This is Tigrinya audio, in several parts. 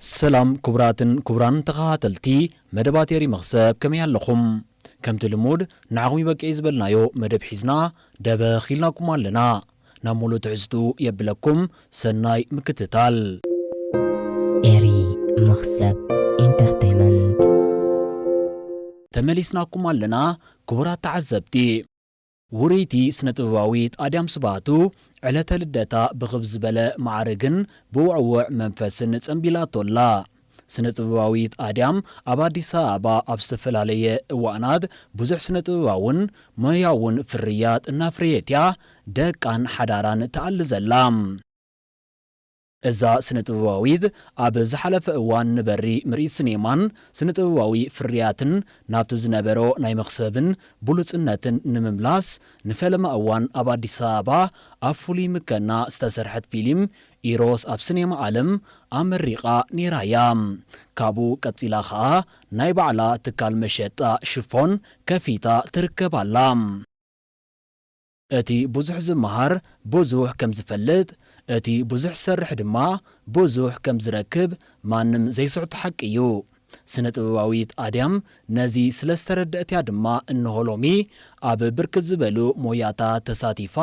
ሰላም ኩቡራትን ኩቡራን ተኻታተልቲ መደባት ኤሪ መኽሰብ ከመይ ኣለኹም ከምቲ ልሙድ ንዓኹም ይበቅዒ ዝበልናዮ መደብ ሒዝና ደበኽ ኢልናኩም ኣለና ናብ ሙሉእ ትሕዝትኡ የብለኩም ሰናይ ምክትታል። ኤሪ መኽሰብ ኢንተርተይመንት። ተመሊስናኩም ኣለና ክቡራት ተዓዘብቲ። ውርይቲ ስነ-ጥበባዊት ኣድያም ስብሃቱ ዕለተ ልደታ ብኽብ ዝበለ መዓርግን ብውዕዉዕ መንፈስን ጸንቢላቶ ኣላ። ስነ-ጥበባዊት ኣድያም ኣብ ኣዲስ ኣበባ ኣብ ዝተፈላለየ እዋእናት ብዙሕ ስነ-ጥበባውን ሞያውን ፍርያት እናፍረየት'ያ ደቃን ሓዳራን ትኣሊ ዘላ። እዛ ስነ-ጥበባዊት ኣብ ዝሓለፈ እዋን ንበሪ ምርኢት ስኔማን ስነ-ጥበባዊ ፍርያትን ናብቲ ዝነበሮ ናይ መኽሰብን ብሉጽነትን ንምምላስ ንፈለማ እዋን ኣብ ኣዲስ ኣበባ ኣብ ፍሉይ ምከና ዝተሰርሐት ፊሊም ኢሮስ ኣብ ስኔማ ኣለም ኣመሪቓ ኔራ እያ። ካብኡ ቀጺላ ከኣ ናይ ባዕላ ትካል መሸጣ ሽፎን ከፊታ ትርከብ ኣላ። እቲ ብዙሕ ዝመሃር ብዙሕ ከም ዝፈልጥ፣ እቲ ብዙሕ ዝሰርሕ ድማ ብዙሕ ከም ዝረክብ ማንም ዘይስሕቶ ሓቂ እዩ። ስነ-ጥበባዊት ኣድያም ነዚ ስለ ዝተረድኣት'ያ ድማ እንሆ ሎሚ ኣብ ብርክት ዝበሉ ሞያታት ተሳቲፋ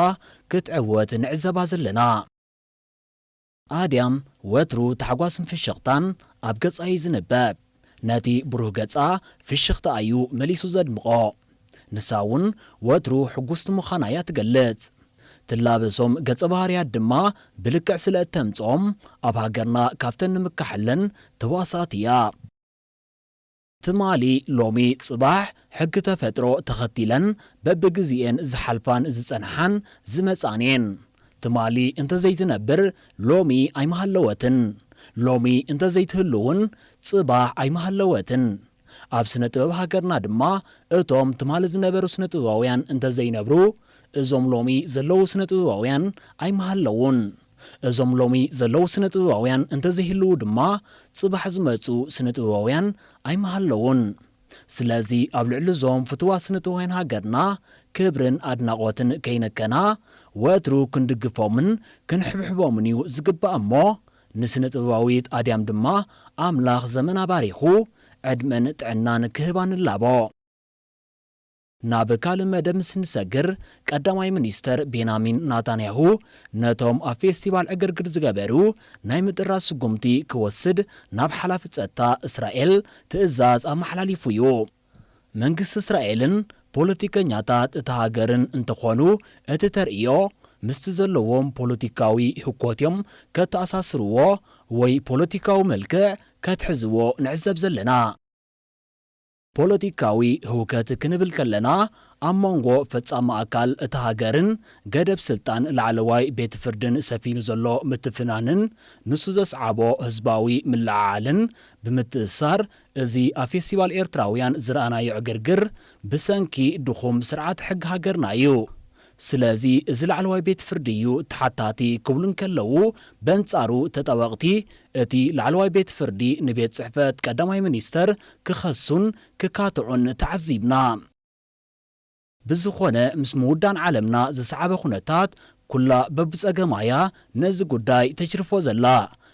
ክትዕወት ንዕዘባ ዘለና። ኣድያም ወትሩ ታሕጓስን ፍሽኽታን ኣብ ገጻ እዩ ዝንበብ። ነቲ ብሩህ ገጻ ፍሽኽታ እዩ መሊሱ ዘድምቖ። ንሳ እውን ወትሩ ሕጉስቲ ምዃና እያ ትገልጽ። ትላበሶም ገጸ ባህርያት ድማ ብልክዕ ስለ እተምጽኦም ኣብ ሃገርና ካብተን ንምካሐለን ተዋሳእቲ እያ። ትማሊ ሎሚ ጽባሕ ሕጊ ተፈጥሮ ተኸቲለን በብግዜኤን ዝሓልፋን ዝጸንሓን ዝመጻን'የን። ትማሊ እንተዘይትነብር ሎሚ ኣይምሃለወትን፣ ሎሚ እንተዘይትህሉ'ውን ጽባሕ ኣይምሃለወትን። ኣብ ስነ ጥበብ ሃገርና ድማ እቶም ትማሊ ዝነበሩ ስነ ጥበባውያን እንተዘይነብሩ እዞም ሎሚ ዘለዉ ስነ ጥበባውያን ኣይምሃለዉን። እዞም ሎሚ ዘለዉ ስነ-ጥበባውያን እንተዘይህልዉ ድማ ጽባሕ ዝመጹ ስነ-ጥበባውያን ኣይምሃለዉን። ስለዚ ኣብ ልዕሊ'ዞም ፍቱዋት ስነ-ጥበባውያን ሃገርና ክብርን ኣድናቖትን ከይነከና ወትሩ ክንድግፎምን ክንሕብሕቦምን'ዩ ዝግባእ'ሞ ንስነ-ጥበባዊት ኣድያም ድማ ኣምላኽ ዘመና ባሪኹ ዕድመን ጥዕናን ክህባ ንላቦ። ናብ ካልእ መደብ ምስ ንሰግር፣ ቀዳማይ ሚኒስተር ቤናሚን ናታንያሁ፣ ነቶም ኣብ ፌስቲቫል ዕግርግር ዝገበሩ ናይ ምጥራዝ ስጉምቲ ክወስድ ናብ ሓላፊ ጸጥታ እስራኤል ትእዛዝ ኣመሓላሊፉ'ዩ። መንግስቲ እስራኤልን ፖለቲከኛታት እታ ሃገርን እንተኾኑ እቲ ተርእዮ ምስቲ ዘለዎም ፖለቲካዊ ህኮት'ዮም ከተኣሳስርዎ ወይ ፖለቲካዊ መልክዕ ከትሕዝዎ ንዕዘብ ዘለና። ፖለቲካዊ ህውከት ክንብል ከለና ኣብ መንጎ ፈጻሚ ኣካል እታ ሃገርን ገደብ ስልጣን ላዕለዋይ ቤት ፍርድን ሰፊኑ ዘሎ ምትፍናንን ንሱ ዘስዓቦ ህዝባዊ ምልዕዓልን ብምትእስሳር እዚ ኣብ ፌስቲቫል ኤርትራውያን ዝረኣናዮ ዕግርግር ብሰንኪ ድኹም ስርዓተ ሕጊ ሃገርና እዩ ስለዚ እዚ ላዕለዋይ ቤት ፍርዲ እዩ ተሓታቲ ክብሉ እንከለዉ፣ በንጻሩ ተጣበቕቲ እቲ ላዕለዋይ ቤት ፍርዲ ንቤት ጽሕፈት ቀዳማይ ሚኒስተር ክኸሱን ክካትዑን ተዓዚብና። ብዝኾነ ምስ ምውዳን ዓለምና ዝሰዓበ ኩነታት ኩላ በብጸገማ እያ ነዚ ጉዳይ ተጅርፎ ዘላ።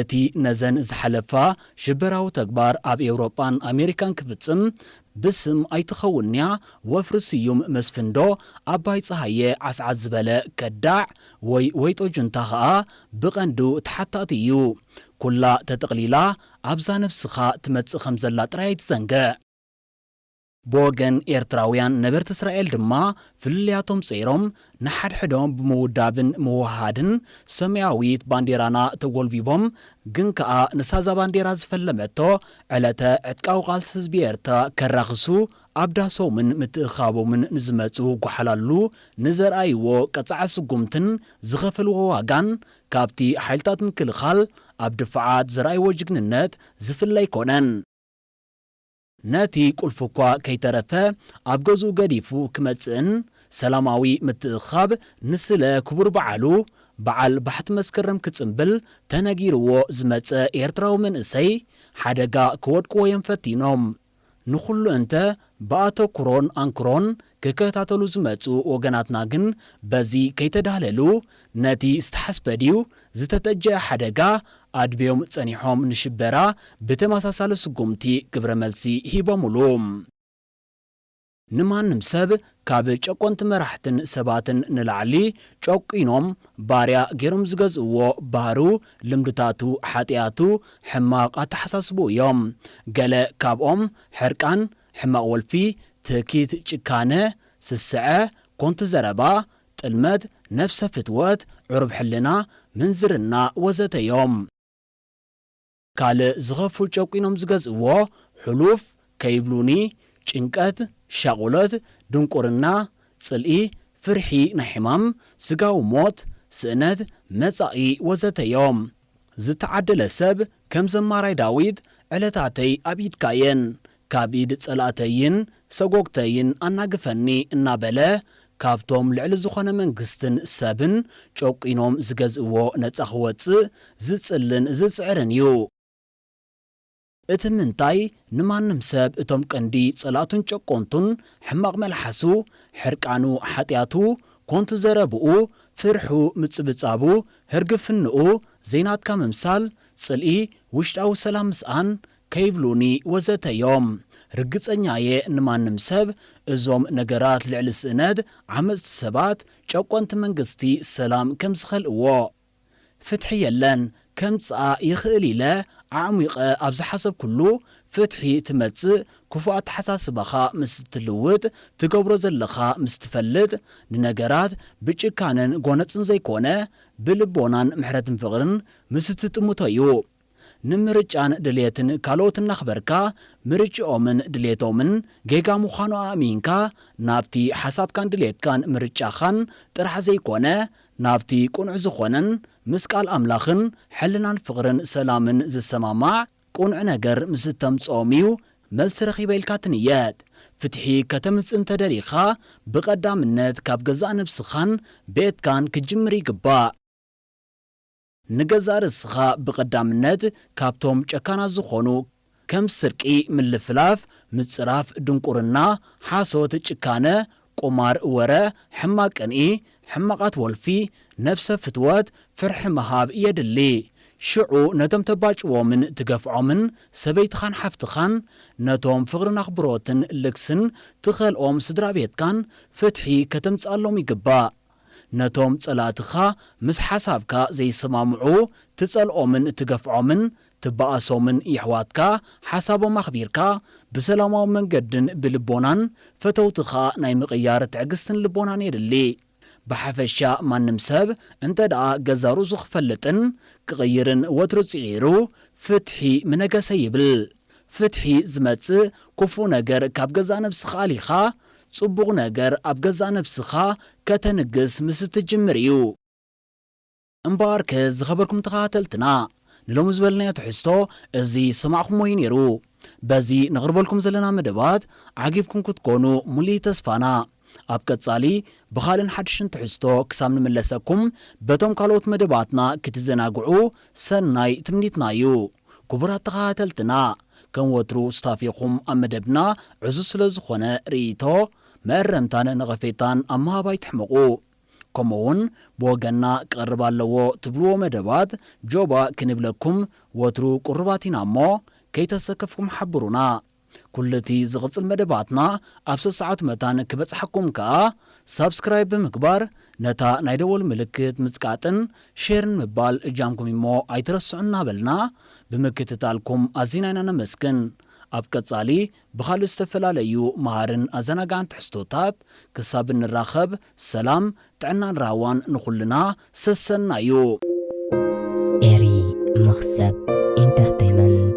እቲ ነዘን ዝሓለፋ ሽበራዊ ተግባር ኣብ ኤውሮጳን ኣሜሪካን ክፍጽም ብስም ኣይትኸውንያ ወፍሪ ስዩም መስፍንዶ ኣባይ ጸሃየ ዓስዓስ ዝበለ ከዳዕ ወይ ወይጦ ጁንታ ከኣ ብቐንዱ ተሓታቲ እዩ። ኩላ ተጠቕሊላ ኣብዛ ነብስኻ ትመጽእ ከምዘላ ጥራይ ኣይትዘንግዕ። ብወገን ኤርትራውያን ነበርቲ እስራኤል ድማ ፍልልያቶም ጸይሮም ንሓድሕዶም ብምውዳብን ምውህሃድን ሰማያዊት ባንዴራና ተጎልቢቦም ግን ከኣ ንሳዛ ባንዴራ ዝፈለመቶ ዕለተ ዕጥቃዊ ቃልሲ ህዝቢ ኤርትራ ከራኽሱ ኣብ ዳሶምን ምትእኽኻቦምን ንዝመጹ ጎሓላሉ ንዘርኣይዎ ቀጻዒ ስጉምትን ዝኸፈልዎ ዋጋን ካብቲ ሓይልታት ምክልኻል ኣብ ድፋዓት ዘርኣይዎ ጅግንነት ዝፍለ ኣይኮነን። ነቲ ቁልፊ እኳ ከይተረፈ ኣብ ገዝኡ ገዲፉ ክመጽእን ሰላማዊ ምትእኽኻብ ንስለ ክቡር በዓሉ በዓል ባሕቲ መስከረም ክጽምብል ተነጊርዎ ዝመጸ ኤርትራዊ መንእሰይ ሓደጋ ከወድቅዎ እዮም ፈቲኖም። ንኹሉ እንተ ብኣተኩሮን ኣንክሮን ክከታተሉ ዝመጹ ወገናትና ግን በዚ ከይተዳህለሉ ነቲ ዝተሓስበ ድዩ ዝተተጀኣ ሓደጋ ኣድብዮም ጸኒሖም ንሽበራ ብተመሳሳሊ ስጉምቲ ግብረ መልሲ ሂቦምሉ። ንማንም ሰብ ካብ ጨቆንቲ መራሕትን ሰባትን ንላዕሊ ጨቊኖም ባርያ ጌሮም ዝገዝእዎ ባህሩ፣ ልምድታቱ፣ ሓጥያቱ፣ ሕማቕ ኣተሓሳስብኡ እዮም። ገለ ካብኦም ሕርቃን፣ ሕማቕ ወልፊ፣ ትህኪት፣ ጭካነ፣ ስስዐ፣ ኮንቱ ዘረባ፣ ጥልመት፣ ነብሰ ፍትወት፣ ዕሩብ ሕልና፣ ምንዝርና ወዘተ እዮም። ካልእ ዝኸፍኡ ጨቊኖም ዝገዝእዎ ሕሉፍ ከይብሉኒ፣ ጭንቀት፣ ሻቑሎት፣ ድንቁርና፣ ጽልኢ፣ ፍርሒ ናይ ሕማም፣ ስጋዊ ሞት፣ ስእነት መጻኢ ወዘተ እዮም። ዝተዓደለ ሰብ ከም ዘማራይ ዳዊት ዕለታተይ ኣብ ኢድካ እየን ካብ ኢድ ጸላእተይን ሰጎግተይን ኣናግፈኒ እናበለ ካብቶም ልዕሊ ዝኾነ መንግስትን ሰብን ጨቊኖም ዝገዝእዎ ነጻ ክወጽእ ዝጽልን ዝጽዕርን እዩ። እቲ ምንታይ ንማንም ሰብ እቶም ቀንዲ ጸላእቱን ጨቆንቱን ሕማቕ መልሓሱ፣ ሕርቃኑ፣ ሓጥያቱ፣ ኮንቱ ዘረብኡ፣ ፍርሑ፣ ምጽብጻቡ፣ ህርግፍንኡ፣ ዘይናትካ ምምሳል፣ ጽልኢ፣ ውሽጣዊ ሰላም ምስኣን፣ ከይብሉኒ ወዘተ እዮም። ርግጸኛ እየ ንማንም ሰብ እዞም ነገራት ልዕሊ ስእነት፣ ዓመጽቲ ሰባት፣ ጨቆንቲ መንግስቲ ሰላም ከም ዝኸልእዎ። ፍትሒ የለን ከምጽኣ ይኽእል ኢለ ኣዕሚቐ ኣብ ዝሓሰብኩሉ ፍትሒ ትመጽእ ክፉእ ኣተሓሳስባኻ ምስ ትልውጥ ትገብሮ ዘለኻ ምስ ትፈልጥ ንነገራት ብጭካነን ጎነጽን ዘይኮነ ብልቦናን ምሕረትን ፍቕርን ምስ ትጥምቶ'ዩ። ንምርጫን ድልየትን ካልኦት እናኽበርካ፣ ምርጭኦምን ድልየቶምን ጌጋ ምዃኑ ኣእሚንካ፣ ናብቲ ሓሳብካን ድልየትካን ምርጫኻን ጥራሕ ዘይኮነ፣ ናብቲ ቅኑዕ ዝኾነን ምስ ቃል ኣምላኽን ሕልናን ፍቕርን ሰላምን ዝሰማማዕ ቅኑዕ ነገር ምስ እተምጽኦም እዩ መልሲ ረኺበ ኢልካ ትንየት። ፍትሒ ከተምጽእ እንተ ደሊኻ፣ ብቐዳምነት ካብ ገዛእ ነብስኻን ቤትካን ክትጅምር ይግባእ። ንገዛእ ርእስኻ ብቐዳምነት ካብቶም ጨካናት ዝኾኑ ከም ስርቂ፣ ምልፍላፍ፣ ምጽራፍ፣ ድንቁርና፣ ሓሶት፣ ጭካነ፣ ቁማር፣ ወረ፣ ሕማቕ ቅንኢ፣ ሕማቓት ወልፊ፣ ነብሰ ፍትወት፣ ፍርሒ ምሃብ የድሊ። ሽዑ ነቶም ተባጭዎምን ትገፍዖምን ሰበይትኻን ሓፍትኻን፣ ነቶም ፍቕርን ኣኽብሮትን ልግስን ትኸልኦም ስድራቤትካን ፍትሒ ከተምጽኣሎም ይግባእ። ነቶም ጸላእትኻ ምስ ሓሳብካ ዘይሰማምዑ ትጸልኦምን እትገፍዖምን ትበኣሶምን የሕዋትካ ሓሳቦም ኣኽቢርካ ብሰላማዊ መንገድን ብልቦናን ፈተውትኻ ናይ ምቕያር ትዕግስትን ልቦናን የድሊ። ብሓፈሻ ማንም ሰብ እንተድኣ ገዛ ርእሱ ክፈልጥን ክቕይርን ወትሩ ጽዒሩ ፍትሒ ምነገሰ ይብል። ፍትሒ ዝመጽእ ኩፉእ ነገር ካብ ገዛእ ነብስኻ ኣሊኻ ጽቡቕ ነገር ኣብ ገዛእ ነብስኻ ከተንግስ ምስ እትጅምር እዩ። እምበኣርከ ዝኸበርኩም ተኸታተልትና ንሎሚ ዝበልናዮ ትሕዝቶ እዚ ዝሰማዕኩሞ እዩ ኔሩ። በዚ ነቕርበልኩም ዘለና መደባት ዓጊብኩም ክትኮኑ ሙሉኢ ተስፋና። ኣብ ቀጻሊ ብኻልን ሓድሽን ትሕዝቶ ክሳብ ንምለሰኩም በቶም ካልኦት መደባትና ክትዘናግዑ ሰናይ ትምኒትና እዩ ኩቡራት ተኻታተልትና ከም ወትሩ ሱታፌኹም ኣብ መደብና ዕዙዝ ስለ ዝኾነ ርእይቶ መእረምታን ነቐፌታን ኣብ ምሃብ ኣይትሕመቑ ከምኡ ውን ብወገንና ክቐርብ ኣለዎ ትብልዎ መደባት ጆባ ክንብለኩም ወትሩ ቁሩባት ኢና እሞ ከይተሰከፍኩም ሓብሩና። ኩሉ እቲ ዝቕጽል መደባትና ኣብ ሰሰዓቱ መታን ክበጽሓኩም ከኣ ሳብስክራይብ ብምግባር ነታ ናይ ደወል ምልክት ምጽቃጥን ሼርን ምባል እጃምኩም እዩሞ ኣይትረስዑ እናበልና ብምክትታልኩም ኣዚና ኢና ነመስግን ኣብ ቀጻሊ ብኻልእ ዝተፈላለዩ መሃርን ኣዘናጋዕን ትሕዝቶታት ክሳብ እንራኸብ ሰላም ጥዕናን ራህዋን ንኹልና ሰሰናዩ። Eri Mkhsab Entertainment።